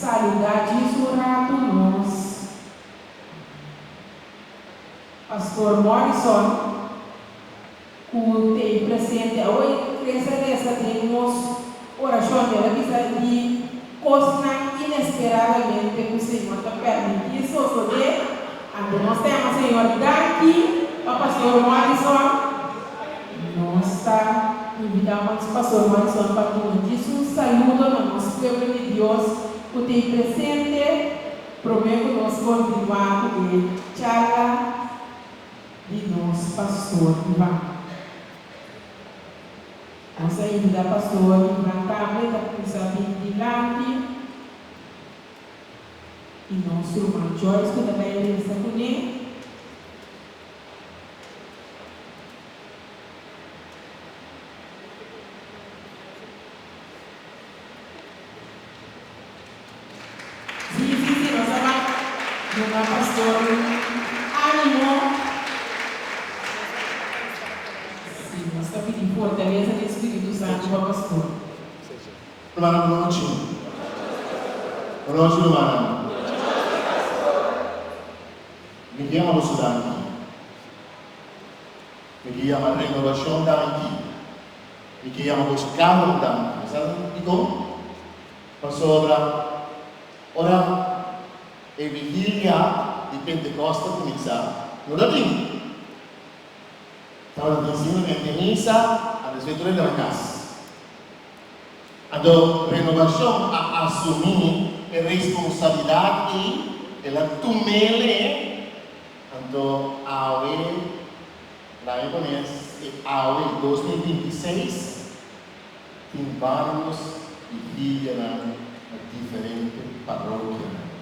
saluda djis un ratu nos Pastor Morrison cu t'ey presente awor y tres a resa den nos oracion y el a bisa di cosnan inesperadamente cu Señor ta permiti esoso de. Anto nos ta yama Señor di Darky pa Pastor Morrison? Nos ta invita mans Pastor Morrison pa tuma djis un saludo na nos pueblo di Dios cu ta y presente prome cu nos continua cu e charla di nos Pastor Ivan. Nos a invita Pastor Ivan tambe ta cuminsa bini dilanti. Y nos Ruman Joyce cu ta bay resa cu ne. Si, si, si, nos a bay dunga Pastor un animo. Si, nos ta pidi fortaleza di Espiritu Santo pa Pastor. Hermano Bruchi. Rochi Luana. Mi ke yama boso danki. Mi ke yama Renovashon danki. Mi ke yama boso Carlo danki. Mi sa dikon? Pasobra ora e vigilia di Pentekost ta kuminsá, no tabata tin. Tabata tin simplemente misa, antes bay tur hende na kas. Ando Renovacion a asumi e responsabilidad ei, el a tumele, anto awe, laga bo mes e awe dos mil binti i seis, tin barrios di Filianan na diferente parokianan.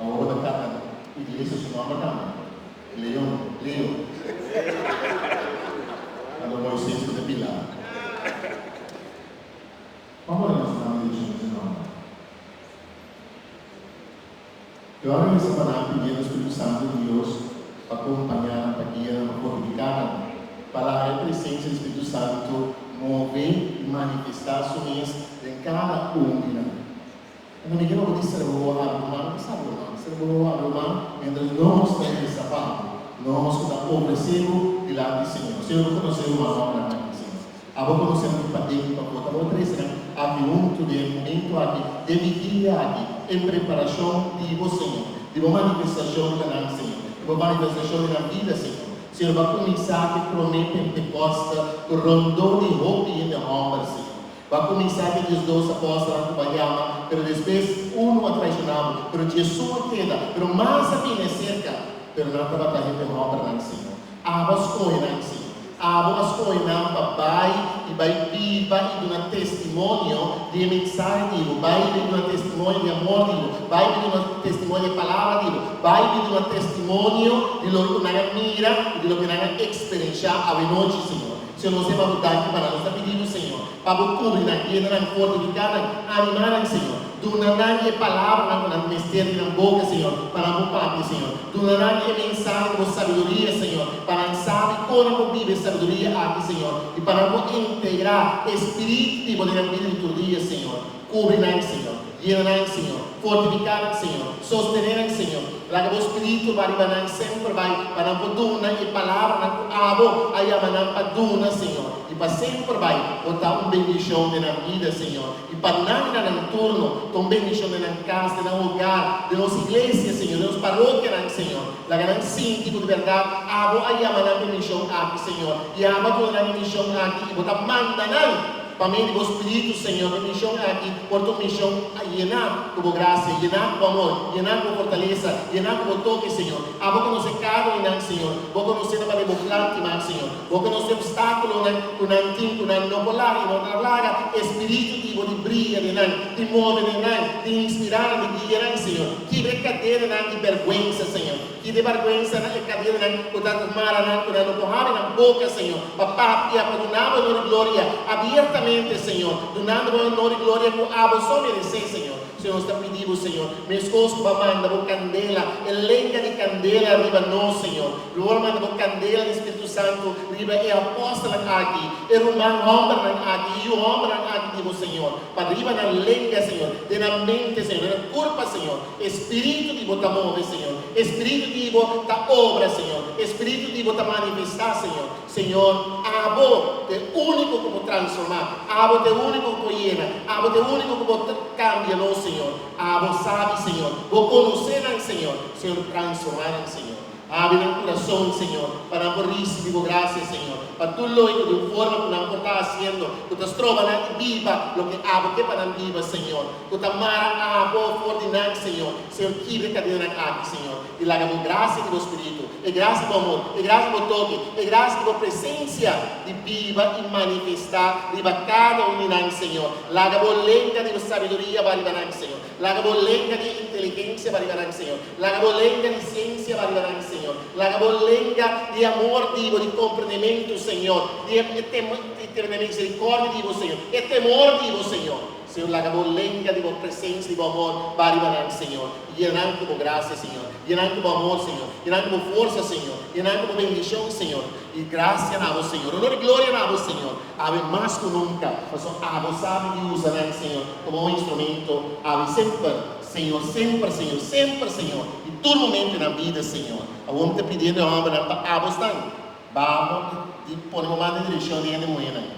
Awor na cana iglesia su nomber cambia Leon Leo ando Moises cu ta pila como ta nos manda direccion dje nomber Yo a reza pa nan pidiendo Espiritu Santo di Dios pa compaña nan pa guia nan pa fortifica nan pa laga e presencia di Espiritu Santo move y manifesta su mes den cada un di nan. Un muñeco no por tin serbo a hablo mal ta sabe man. Serbo no a hablo mal mientras nos ta en esa parte, nos cu ta ofrecebo dilanti di Señor. Si abo conocenan mas no a blanca di Señor. Abo conocenan di paden di pa bo. Ta bo ofrecenan aki hunto den e momento aki, den e vigilia aki, en preparacion di bo Señor, di bo manifestacion na nan Señor, di bo manifestacion den nan bida Señor. Señor ba cuminsa cu e prome pentecosta cu rondó di hopi hende homber Señor. Bo a cuminsa cu diesdos apóstelnan cu bo a yama, pero despues unu a traishona bo. Pero Jesús a keda, pero mas a bini acerca. Pero nan tabata hende hombernan sino. Abo a scoge nan asina. Abo a scoge nan pa bay y bay biba y duna testimonio di e mensahe di bo. Bay y bay duna testimonio di amor di bo. Bay y bay duna testimonio di e palabra di bo. Bay y bay duna testimonio di loke cu nan a mira y di loke cu nan a experiencia awe nochi, Señor. Si nos e babu daki pa nan, nos ta pidi Bo, Señor, pa Bo kubri nan, yena nan, fortifiká nan, animá nan, Señor. Duna nan e palabranan ku nan mester di nan boka, Señor, pa nan Bo papia, Señor. Duna nan e mensahe di Bo sabiduria, Señor, pa nan sabi kon nan por biba e sabiduria aki, Señor, i pa nan por integrá e spirit di Bo den nan bida di tur dia, Señor. Kubri nan, Señor. Yena nan, Señor. Fortifiká nan, Señor. Sostené nan, Señor. Laga Bo Spiritu bai riba nan semper bai, pa nan por duna e palabranan ku Abo a yama nan pa duna, Señor. I pa semper bai Bo ta un bendishon den nan bida, Señor. I pa nan i na nan turno, ta un bendishon den nan kas, den nan hogar, den nos iglesia, Señor, den nos parokianan, Señor. Laga nan sinti ku di bèrdat Abo a yama nan pa e mishon aki, Señor. I Abo a duna nan e mishon aki, i Bo ta manda nan. Pa medio di bo Spiritu, Señor, mi mision aki por ta un mision yená ku bo grasia, yená ku bo amor, yená ku bo fortalesa, yená ku bo toke, Señor. Abo konosé kada unan, Señor. Bo konosé nan papia bo plan di mak, Señor. Bo konosé obstákulonan ku nan tin, ku nan no por laga i no ta laga e Spiritu di bo di bria den nan, di move den nan, di inspirá nan, di guia nan, Señor. Kibra e kadenanan di bèrgwensa, Señor. I di bèrgwensa na e kadennan ku ta ku maranan ku nan lo por habri nan boka, señor, pa papia, pa duna bo onor i gloria abiertamente, señor, dunando bo e onor i gloria ku abo so meresé, señor. Señor, nos ta pidi bo, señor, meskos ku bo manda bo kandela, e lenga di kandela riba nos, señor, lo bo manda bo kandela di spiritu santu riba e apòstelnan aki, e ruman hòmbernan aki, e yu hòmbernan aki di bo, señor, pa riba nan lenga, señor, den nan mente, señor, den nan kurpa, señor. E spiritu di bo ta move, Señor. E spiritu di bo ta obra, Señor. E spiritu di bo ta manifestá, Señor. Señor, abo ta e úniko ku por transformá. Abo ta e úniko ku por yena. Abo ta e úniko ku por kambia nos, Señor. Abo sabi, Señor. Bo konosé nan, Señor. Señor, transformá nan, Señor. Abri nan kurason, Señor, pa nan por risibí bo grasia, Señor, pa tur loke ku den forma ku nan por ta hasiendo ku ta stroba nan biba loke abo ke pa nan biba, Señor. Ku ta mara abo for di nan, Señor. Señor, kibra kadena nan aki, Señor, i laga Bo grasia i Bo Spiritu, e grasia di Bo amor, e grasia di Bo toke, e grasia di Bo presensia di biba i manifestá riba kada un di nan, Señor. Laga Bo lenka di sabiduria ba riba nan, Señor. Laga Bo lenka di inteligensia ba riba nan, Señor. Laga Bo lenka di siensia ba riba nan, Señor. Laga Bo lenka di amor di Bo, di komprendementu, Señor, di e temor di Bo, Señor. Señor, laga bo lenga di bo presencia, di bo amor ba riba nan, Señor. Yena nan cu bo gracia, Señor. Yena nan cu bo amor, Señor. Yena nan cu bo fuerza, Señor. Yena nan cu bo bendicion, Señor. Y gracia na bo, Señor. Honor y gloria na bo, Señor. Awe mas cu nunca, pasobra abo sabi di usa nan, Señor, como un instrumento. Awe semper, Señor, semper, Señor, semper, Señor, y tur momento nan bida, Señor. Awor mi ta pidi hende hombernan pa abo stan. Bamo y pone bo man den direccion di hende muhernan.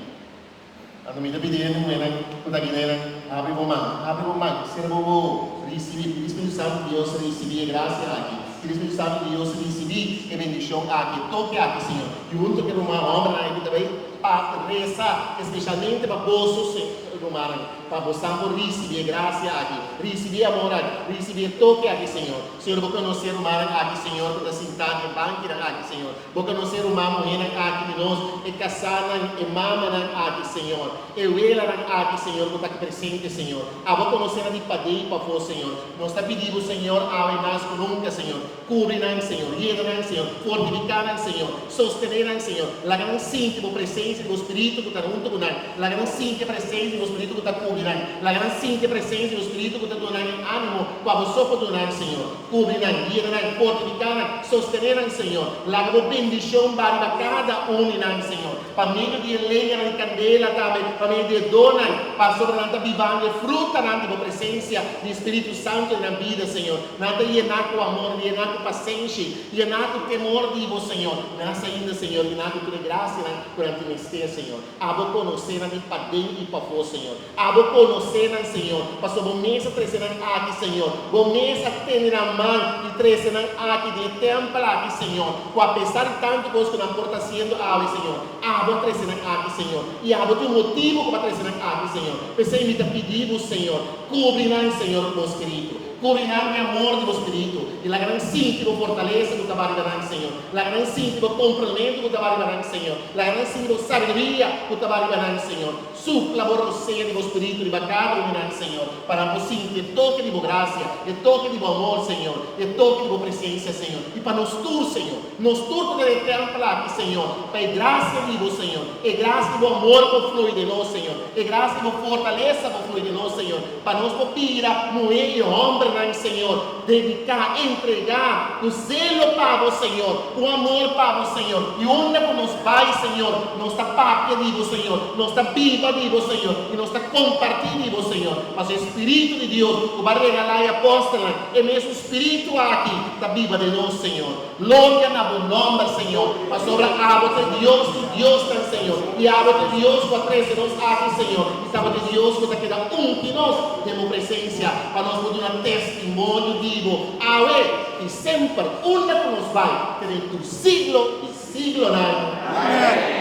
Anto mi ta pidi e muhernan ku ta guinenan, Habri bo man, habri bo man, sera bo bo, risibí di Spiritu Santu di Dios, risibí e grasia aki di Spiritu Santu di Dios, risibí e bendishon aki, toke aki, Señor. Junto ku e ruman hòmbernan ku ta bai pa resa espeshalmente pa boso rumannan, pa bosan por risibí e grasia aki, risibí e amor aki, risibí e toke aki, Señor. Señor, bo konosé rumannan aki, Señor, ku ta sintá den bankinan aki, Señor. Bo conoce ruman muhénan aki di nos, e casánan, e mamanan aki, Señor, e welanan aki, Señor, cu ta aki presente, Señor. Abo conoce nan di padé i pafó, Señor. Nos ta pidi Bo, Señor, awe i mas cu nunca, Señor, cubri nan, Señor, yega nan, Señor, fortifica nan, Señor, sostene nan, Señor. Laga nan sinti Bo presencia di Bo Spiritu cu ta huntu cu nan. Laga nan sinti e presencia di Bo Spiritu cu ta cubri nan. Laga nan sinti e presencia di Bo Spiritu cu ta duna nan e animo cu abo so por dunan, Señor. Cubri nan, guia nan, fortifica nan, sostene nan, Señor. Laga bo bendicion baha riba cada un di nan, Señor, pa medio di e leñanan di candela, tambe pa medio di e donnan, pasobra nan ta bibando e frutanan di bo presencia, di e Spiritu Santo den nan bida, Señor. Nan ta yena cu amor, yena cu pacenshi, yena cu temor di bo, Señor, mas ainda, Señor, yena cu tur e gracianan cu nan tin mester, Señor. Abo conoce nan di paden y pafo, Señor. Abo conoce nan, Señor, pasobra bo mes a trece nan aki, Señor. Bo mes a tende nan man y trece nan aki den e tempel aki, Señor. Cu a pesar di tanto cos cu nan por ta haciendo awe, Señor, abo a trece nan aki, Señor. Y abo tin un motibo cu bo a trece nan aki, Señor. P'esey mi ta pidi Bo, Señor, cubri nan, Señor, cu Bo Spiritu. Cubri nan cu e amor di Bo Spiritu y laga nan sinti Bo fortaleza cu taba riba nan, Señor. Laga nan sinti Bo complemento cu taba riba nan, Señor. Laga nan sinti Bo sabiduria cu taba riba nan, Señor. Supla bo rosea di bo Spiritu riba kada unu nan, Señor, pa nan por sinti e toke di bo grasia, e toke di bo amor, Señor, i e toke di bo presensia, Señor, i pa nos tur, Señor. Nos tur ta den e tèmpel aki, Señor, pa e grasia di bo, Señor, e grasia di bo amor por flui den nos, Señor, e grasia di bo fortalesa por flui den nos, Señor. Pa nos por bira muhé i hòmbernan, Señor, dediká, entregá ku zelo pa Bo, Señor, ku amor pa Bo, Señor. I unda ku nos bai, Señor, nos ta papia di Bo, Señor, nos ta biba di Bo, Señor, i nos ta kompartí di Bo, Señor. Pasobra e spiritu di Dios ku Bo a regalá e apòstelnan, e mesun spiritu aki ta biba den nos, Señor. Gloria na bo nomber, Señor, pasobra abo t'e Dios di diosnan, Señor, i abo t'e Dios ku a trese nos aki, Señor, i tabata e Dios ku ta keda unti nos den bo presensia, pa nos por duna testimonio di bo awe i semper, unda ku nos bai, te den tur siglo di siglonan. Amen.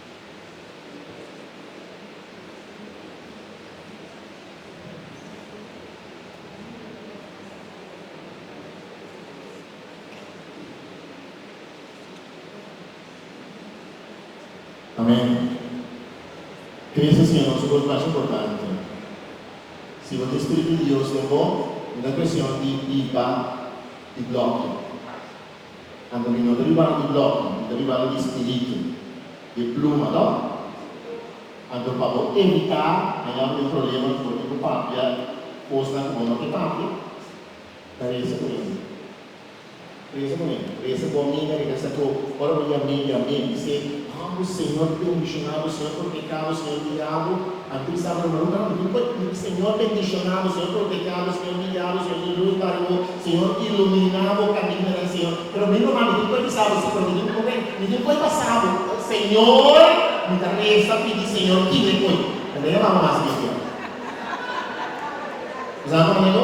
Amen. Crece si a nos un cos mas importante. Si bo tin Spiritu di Dios den bo, mi ta presion di i ba di bloki. Konta mi no ta ribano di blòknan, mi ta ribano di spiritu, di pluma lo. Anto pa bo evitá haña bo e problema for di bo papia kosnan ku bo no ke papia, ta resa ku mi. Resa ku mi, resa ku mi ta resa ku ora bo yam'é, yam'é, mi se. Amo ku Señor bendishoná bo Señor por pekado Señor diabo a bisa bo hermano ta hopi por Señor bendishoná bo Señor por pekado Señor diabo Señor di luz para bo Señor iluminá bo camino nan Señor pero mi no ami tin por bisa bo si pero mi tin oe mi tin oe pasa bo Señor mi ta reza pidi Señor guime oe mi ta yama bo mas cristiano bo sa kome ta yama bo.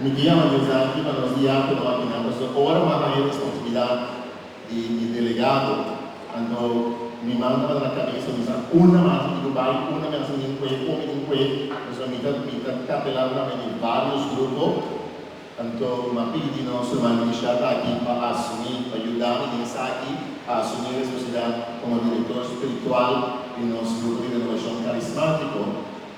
Mi ke yama Dios aki pa nos guia ku no a bina. Pasobra ora mi a haña responsibilidat di delegado, anto mi manta pa na kabesa mi sa unda mas mi tin ku bai, unda mi a hasi mi tin kue, kon mi tin kue. Pasobra mi ta mi ta kapelan tambe di varios grupo. Anto mi a pidi di nos ruman Richard aki pa asumí, pa yuda mi den esaki, pa asumí responsibilidat komo direktor spiritual di nos grupo di Renobashon Karismátiko.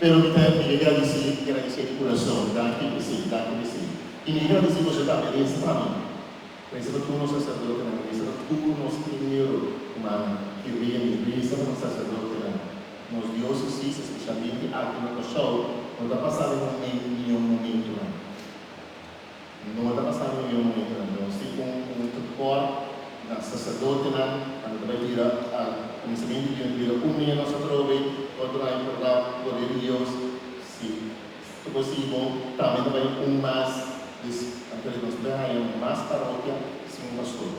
Pero mi ta e mi gradisí, mi gradisí di kurason, danki Bresíl, danki Bresíl. I mi gradisí boso tambe, resa pa mi, resa pa tur nos saserdotenan, resa pa tur nos primero humannan, ki rene, resa pa nos saserdotenan, nos diósesis, espeshalmente aki na Kòrsou, ku no ta pasá den un momento, mió momentunan. No ta pasa reunion manera nan, pero si un tekort na saserdotenan cuando ta bay bira al comienzamento di un bira un media nos atrobe, otro aña por dao poder di Dios, si ta posibo tambe ta bay un mas des antes nos bay haña mas parokia sin un pastor.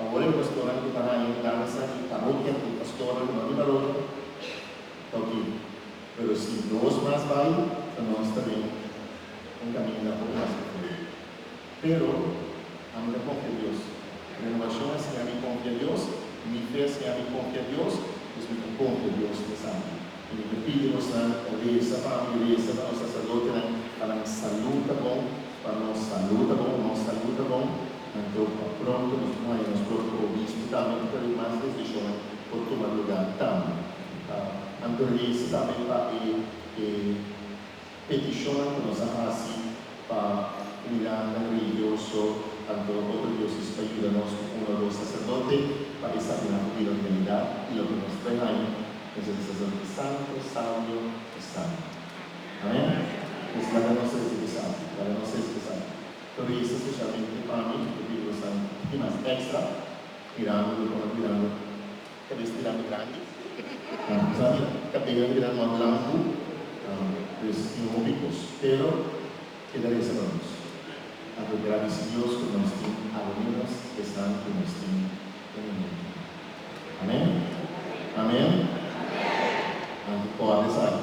Awor e pastornan cu ta haña mudansa di parokia cu pastornan cu no tin parokia ta oke, pero si dos mas bay ta nos ta bien. un kaminda bon mas di kurejo. Pero, ami ta konfia Dios. Renovashon a siña mi konfia Dios, i mi fe a siña mi konfia Dios, dus mi ta konfia Dios esaki. I mi ta pidi bosnan resa pa ami, resa pa nos saserdotenan, pa nan salú ta bon, pa nos salú ta bon, nos salú ta bon, nan tròp pa pronto nos kuma, i nos propio obispo tambe ku ta bin mas desishonnan por tuma lugá tambe. Nan ta resa tambe pa e. petishonnan ku nos a hasi pa kumindantenan religioso anto otro diósis pa yuda nos ku uno o dos saserdote pa eksaminá ku bira fialidat i loke nos trae maña, nos a di saserdote santu, sabio i santu. Amen? Pues laga nos resa ku sabio. Laga nos resa ku sabio. Lo resa spesialmente pa mi, ku Spiritu Santu. Ki mas? Èkstra? Mirando loke nos mirando. Ka den stiran grandi. Sabi, ka den nan stiran mas blanku. Pues tin hopi kos. Pero keda resa pa nos. A ta gradisi Dios ku nos tin almenos esnan ku nos tin den e mente. Amen? Amen? Anto kòrda esaki.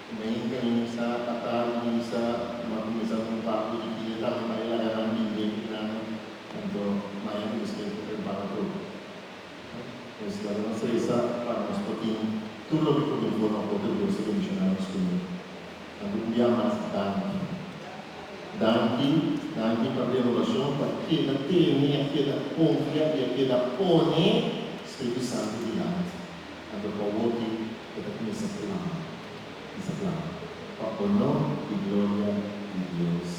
Mei cuminsa a tabla di misa, m'a cuminsa cu un papu di dia ta handa e laga nan bind'e cu nan, anto maya cu biscuit pa prepara tur. Pues laga no fresa pa nos por tin tur loke por di forma por ta dulce bendiciona nos comida. Anto un bia mas danki. Danki, danki pa renovacion pa keda tene, a keda confia y a keda pone Spiritu Santo dilanti. Anto pa woki e ta kuminsá klama, i sa klama, Pa onó i gloria di Dios.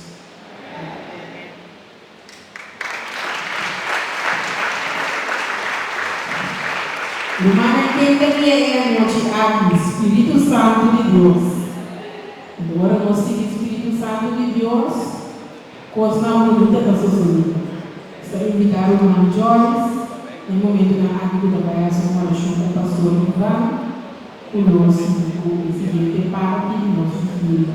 Rumannan ken ta bia e anochi aki? Spiritu Santu di Dios. I ora nos tin e Spiritu Santu di Dios. Kosnan bunita ta sosodí. Esta invitá ruman Joyce na e momentunan aki ku ta bai hasi un orashon ku Pastor Ivan ku lo sigui ku e siguiente parti di nos vidi'o.